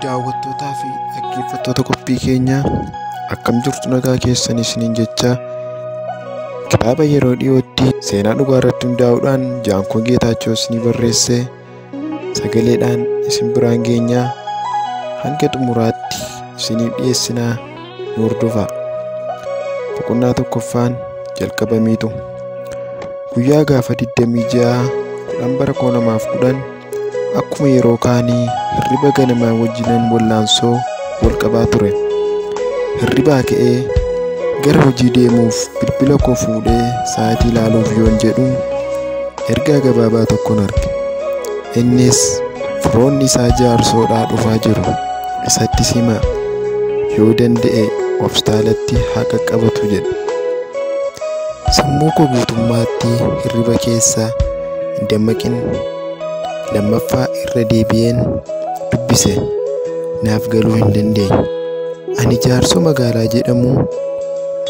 daawwattootaa fi dhaggeeffattoota qophii keenyaa akkam jirtu nagaa keessan isiniin jecha kitaaba yeroo dhiyootti seenaa dhugaa irratti hundaa'uudhaan jaankoo geetaachoo isinii barreesse sagaleedhaan isin biraan geenyaa hanga xumuraatti isiniif dhiyeessinaa nu hordofaa boqonnaa tokkoffaan jalqabamiitu guyyaa gaafa 26 10 bara 2010 Akkuma yeroo kaanii hirriba ganamaa wajjinan wallaansoo wal qabaa ture. Hirribaa ka'ee gara hojii deemuuf bilbila koo fuudhee sa'aatii ilaaluuf yoon jedhu ergaa gabaabaa tokkon arge. Innis firoonni isaa jaarsoodhaa dhufaa jiru isatti simaa yoo danda'e hospitaalatti haa qaqqabatu jedhe. Sammuu koo guutummaatti hirriba keessa hin dammaqin lammaffaa irra deebi'een dubbise naaf galuu hin dandeenye ani jaarsoo magaalaa jedhamu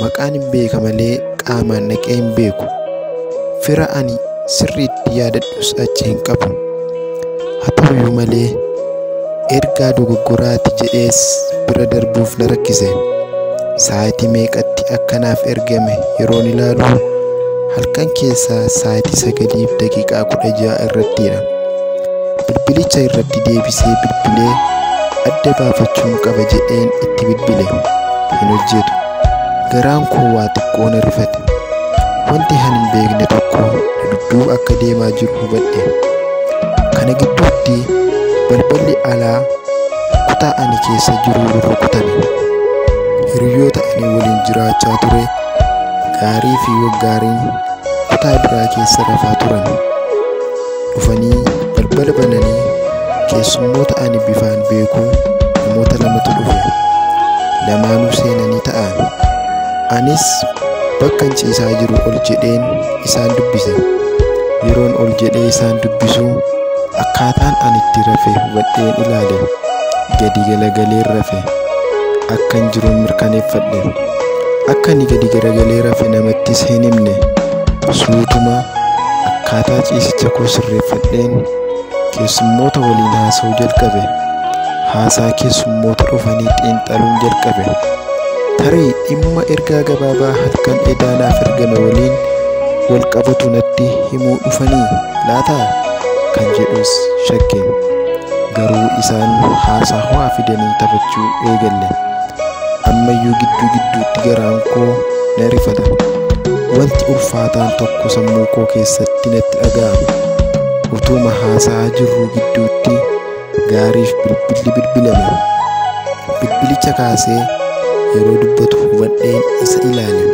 maqaan hin beeka malee qaamaan dhaqee hin beeku fira ani sirriitti yaadadhus achi hin qabu Haa ta'uyyuu malee, ergaa dogoggoraati jedhees bira darbuuf na rakkise. Sa'aatii meeqatti akka naaf ergame yeroon ilaalu halkan keessaa sa'aatii sagaliif daqiiqaa kudha ja'a irrattidha. Bilbilicha irratti deebisee bilbilee adda baafachuun qaba jedheen itti bilbile. Hin hojjetu. Garaan koo waa xiqqoo na rifate. Wanti ani hin beekne tokko na dudduuba akka deemaa jiru hubadhe. Kana gidduutti balballi alaa kutaa ani keessa jiru rurrukutame. Hiriyoota ani waliin jiraachaa ture gaarii fi waggaariin kutaa biraa keessa rafaa turan. dhufanii balbala bananii keessummoota ani bifaan beeku namoota lamatu dhufe lamaanuu seenanii ta'an anis bakka hin ciisaa jiru ol jedheen isaan dubbise yeroon ol jedhee isaan dubbisu akkaataan ani itti rafe hubadheen ilaale gadi galagaleen rafe akkan jiruun mirkaneeffadhe Akka inni gadi garagalee rafe namattis hin himne. Suutuma akkaataa ciisicha koo sirreeffadheen keessummoota waliin haasa'uu jalqabe. Haasaa keessummoota dhufanii xiinxaluun jalqabe. Tarii dhimma ergaa gabaabaa halkan edaa naaf ergame waliin wal qabatu natti himuu dhufanii laataa kan jedhus shakke. Garuu isaan haasaa ho'aa fidanii taphachuu eegalle. ammayyuu gidduu gidduutti garaan koo na rifata wanti ulfaataan tokko sammuu koo keessatti natti dhaga'ama utuuma haasa'aa jirruu gidduutti gaariif bilbilli bilbilame bilbilicha kaasee yeroo dubbatu hubadheen isa ilaale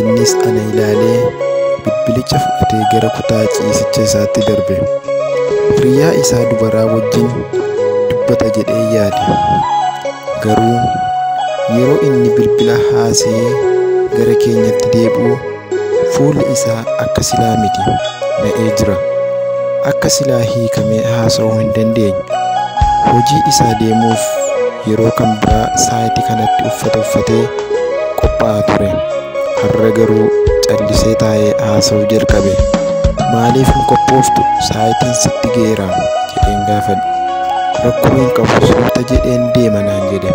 innis ana ilaalee bilbilicha fudhatee gara kutaa ciisicha isaatti darbe hiriyaa isaa dubaraa wajjin dubbata jedhee yaade Garuu yeroo inni bilbila haasa'ee gara keenyatti deebi'u fuulli isaa akka silaa miti na'ee jira. Akka silaa hiikamee haasa'uu hin dandeenye. Hojii isaa deemuuf yeroo kan biraa sa'aatii kanatti uffata uffatee qophaa'aa ture. Har'a garuu callisee taa'ee haasa'uu jalqabe. Maaliif hin qophooftu sa'aatiin sitti ga'eera jedheen gaafadhe. rakkoo hin qabu suuta jedheen deema naan jedhe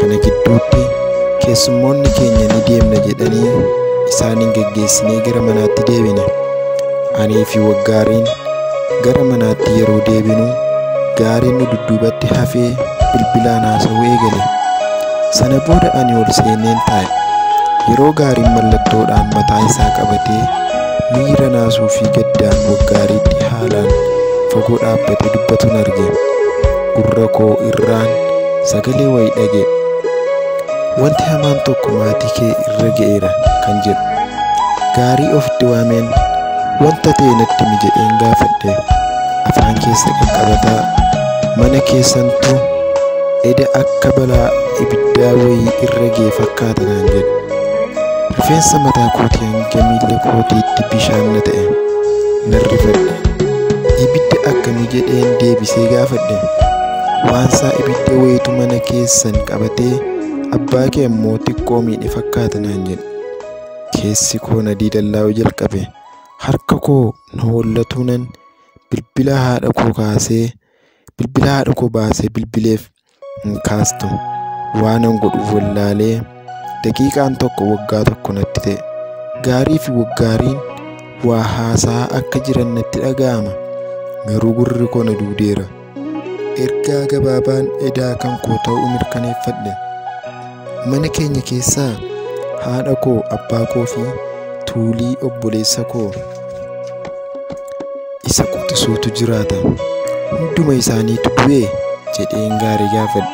kana gidduutti keessummoonni keenya ni deemna jedhanii isaan hin geggeessinee gara manaatti deebine anii fi waggaariin gara manaatti yeroo deebinu gaariin nu dudduubatti hafee bilbilaan haasawuu eegale sana booda ani ol seeneen taa'e yeroo gaariin mallattoodhaan mataa isaa qabatee Miira naasuu fi gaddaan waggaariitti haalaan fagoo dhaabbate dubbatuun arge. Gurra koo irraan sagalee wayi dhage. Wanti hamaan tokko maatii kee irra ga'eera kan jedhu. Gaarii of diwaameen wanta ta'e natti mi jedheen gaafadhe. Afaan keessa qaqqabataa mana keessantu eda akka balaa ibiddaa wayii irra ga'e fakkaata naan jedhe. Rifeensa mataa kootii hanga miila kootiitti bishaan na ta'e. Nan rifadhe. Ibidda akkamii jedheen deebisee gaafadhe. Waansaa ibidda wayitu mana keessan qabatee abbaa kee ammoo xiqqoo miidhe fakkaata naan jedhe. Keessi koo na diilallaa'uu jalqabe. Harka koo na hollatuunan bilbila haadha koo kaasee bilbila haadha koo baasee bilbileef. hin kaastu waanan godhuuf wallaalee daqiiqaan tokko waggaa tokko natti ta'e gaarii fi waggaariin waa haasaa akka jiran natti dhaga'ama garuu gurri koo na duudeera ergaa gabaabaan edaa kan koo ta'uu mirkaneeffadhe Mana keenya keessaa haadha koo, abbaa koo fi tuulii obboleessa koo isa quxisuutu jiraata. Hunduma isaaniitu du'e jedheen gaarii gaafadhe.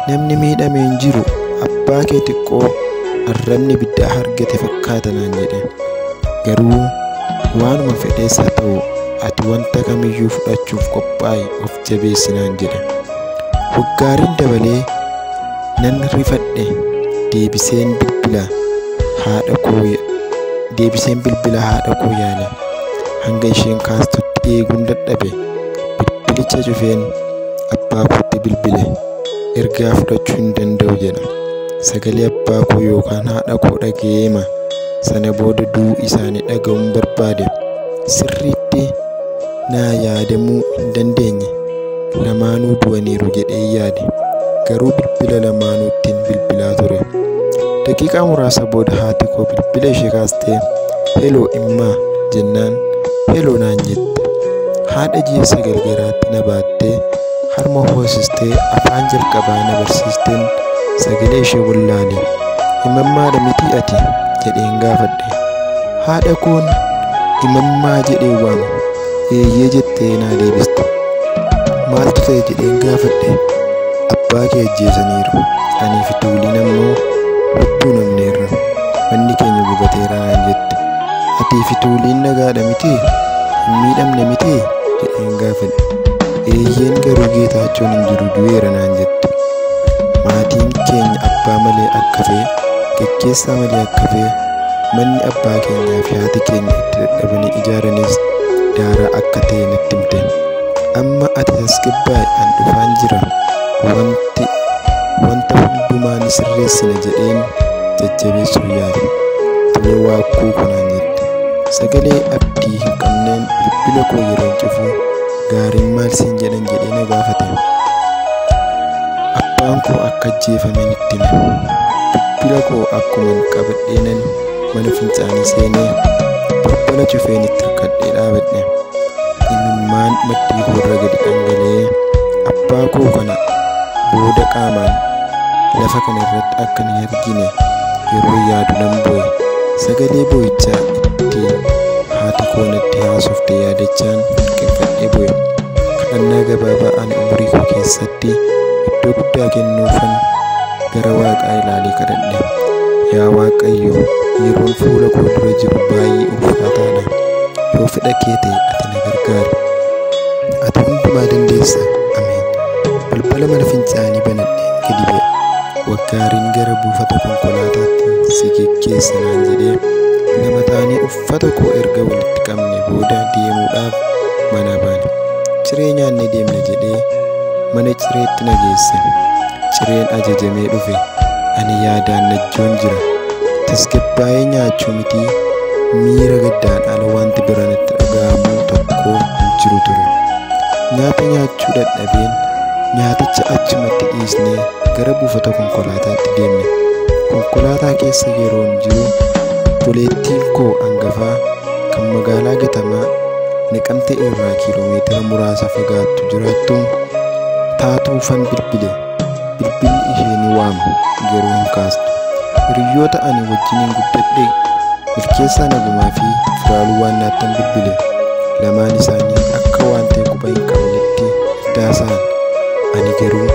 Namni miidhame hin jiru abbaa kee xiqqoo arrabni ibiddaa argate fakkaata naan jedhe. Garuu waanuma fedhees haa ta'u ati wanta kamiyyuu fudhachuuf qophaa'i of jabeessi naan jedhe. Waggaariin dabalee Nan rifadhe deebiseen bilbila haadha koo deebiseen bilbila haadha koo yaale hanga isheen kaastutti eeguun dadhabe bilbilicha cufeen abbaa kootti bilbile ergaa fudhachuu hin danda'u jedha sagalee abbaa koo yookaan haadha koo dhaga'eema sana booda du'uu isaanii dhaga'uun barbaade sirriitti Naa yaadamuu hin dandeenye. Lamaanuu du'aniiru jedheen yaade. Garuu bilbila lamaanuu ittiin bilbilaa ture. Daqiiqaa muraasa booda haati koo bilbila ishee kaastee heloo immaa jennaan heloo naan jette. Haadha ji'a sagal garaatti na baattee harma hoosistee afaan jalqabaa na barsiisteen sagalee ishee wallaale. Imammaadha mitii ati? jedheen gaafadhe. haadha koon imammaa jedhee waame eeyyee jettee naa deebiste maaltu ta'e jedheen gaafadhe abbaa kee ajjeesaniiru anii fi tuuliin ammoo lubbuu namneerra manni keenya gubateera naan jette atii fi tuuliin nagaadha mitii hin miidhamne mitii jedheen gaafadhe eeyyeen garuu geetaachoon hin jiru du'eera naan jette maatiin keenya abbaa malee akka ta'e Geggeessaa malee akka bee manni abbaa keenyaa fi haati keenya itti dadhabanii ijaaranis daaraa akka ta'e natti himte. Amma ati tasgabbaa'i an dhufaan jira wanti wanta hundumaa ni sirreessina jedheen jajjabeessuuf yaale. Tolee waakkuu kunaan jette. Sagalee abdii hin qabneen bilbila koo yeroon cufu Gaariin maal siin jedhan jedhee na gaafate. Abbaan koo akka ajjeefaman itti hime. Bilbila koo akkuman qabadheenan mana fincaanii seenee balbala cufeen itti hirkadhee dhaabadhe. Imimmaan maddii koorra gadi dhangala'ee abbaa koo kana booda qaamaan lafa kana irratti akka na argine yeroo yaadu nan boo'e sagalee boo'ichaa itti haati koo natti haasofte yaadachaan qinfadhee boo'e kadhannaa gabaabaa ani umurii koo keessatti iddoo guddaa kennuufan gara waaqaa ilaalee kadhadhe yaa waaqayyo yeroon fuula koo dura jiru baay'ee ulfaataadha yoo fedha kee ta'e ati na gargaari ati hundumaa dandeessa ameen balbala mana fincaanii banadhe gadi ba'e Waggaariin gara buufata konkolaataatti si geggeessa naan jedhee lama taanee uffata koo erga walitti qabne booda deemuudhaaf mana baane. Ciree nyaannee deemna jedhee mana cireetti na geesse. Cireen ajajamee dhufe. Ani yaadaan najjoon jira. Tasgabbaa'ee nyaachuu mitii miira gaddaan ala wanti bira natti dhaga'amu tokko hin jiru ture. Nyaata nyaachuu dadhabeen nyaaticha achumatti dhiisnee gara buufata konkolaataatti deemne. Konkolaataa keessa yeroon jiru obboleettiin koo angafaa kan magaalaa Gatamaa Naqamtee irraa kiiloomeetira muraasa fagaattu jiraattu taatuufan bilbile. Bilbilli ishee ni waama garuu hin kaastu. Hiriyoota ani wajjiniin guddadhe milkeessaa nagumaa fi firaaluu waan naattan bilbile. Lamaan isaanii akka waan ta'e quba hin qabnetti daasa'an. Ani garuu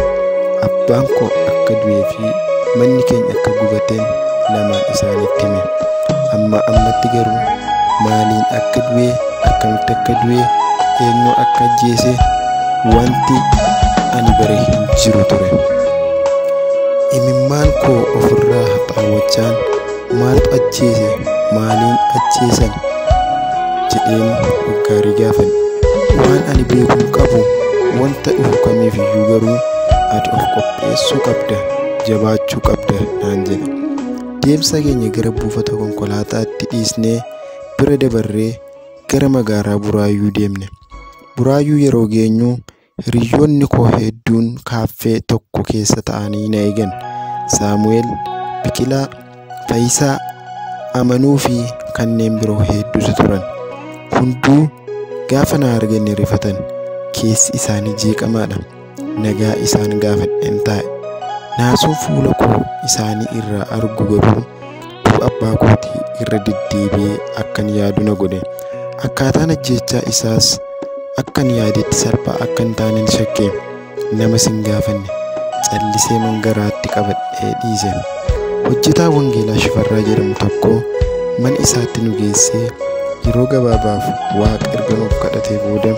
abbaan koo akka du'ee fi manni keenya akka gubateen lamaan isaanitti hime amma ammatti garuu maaliin akka du'ee akkamitti akka du'ee eenyu akka ajjeese wanti ani bare hin jiru ture imimmaan koo ofirraa haxaawwachaan Maaltu ajjeese? Maaliin ajjeesan? jedheen hoggaarii gaafadhe. Waan ani beekuu qabu wanta dhufu kamiif iyyuu garuu ati of qopheessuu qabda, jabaachuu qabda naan jedhe. Deemsa keenya gara buufata konkolaataatti dhiisnee bira dabarree gara magaalaa Buraayyuu deemne. Buraayyuu yeroo geenyu Hiriyoonni koo hedduun kaaffee tokko keessa ta'anii na eegan. Saamu'eel, Biqilaa, Fayisaa, Amanuu fi kanneen biroo hedduutu turan. Hunduu gaafa na argan ni rifatan. Keessi isaanii jeeqamaadha. Nagaa isaan gaafadheen taa'e. Naasuu fuula koo isaanii irraa argu garuu Du'a abbaa kootii irra deddeebi'ee akkan yaadu na godhe. Akkaataan ajjeechaa isaas akkan yaadetti salphaa akka hin taaneen shakke. Namas hin gaafanne. Callisee man garaatti qabadhee dhiise. Hojjetaa Wangeelaa Shifarraa jedhamu tokko mana isaatti nu geessee yeroo gabaabaaf Waaqa erga nuuf kadhatee booda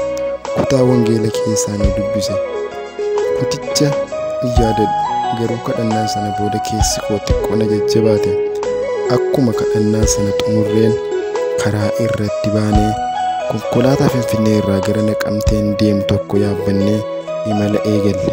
kutaa Wangeela keessaa nu dubbise. Buticha in yaadadhu garuu kadhannaa sana booda keessi koo xiqqoo na jajjabaate akkuma kadhannaa sana xumurreen karaa irratti baanee konkolaataa finfinnee irraa gara naqamteen deemu tokko yaabbannee imala eegalle.